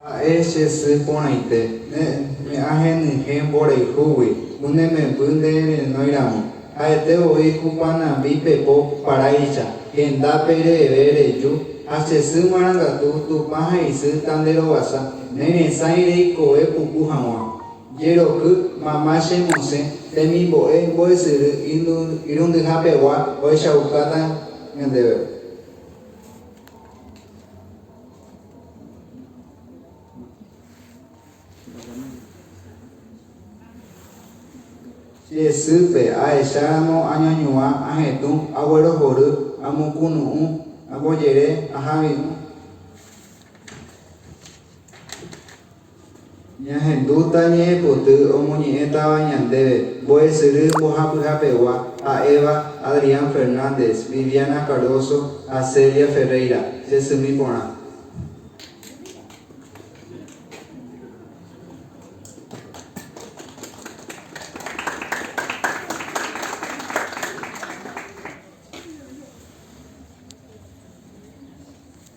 Ha'e che sy porãite, ne ahenyhẽ mborayhúgui, ne memby nde renói ramo. Ha'ete voi kupanambi pepo paráicha, hendápe reheve reju, ha che sy marangatu Tupã ha isy ta nde rovasa, ne resãi reikove puku haguã. Jeroky, mama che mosẽ, temimbo'e mbo'esyry irundyha pegua ohechaukáta ñandéve. Che sýpe, ahecháramo añoñuã, ahetũ, aguerohory, amokunu'ũ, ambojere, ahavi'ũ. Ñahendúta ñe'ẽpoty omoñe'ẽtava ñandéve mbo'esyry mbohapyhapegua ha'éva Adrián Fernández, Viviana Cardoso ha Celia Ferreira, che symi porã.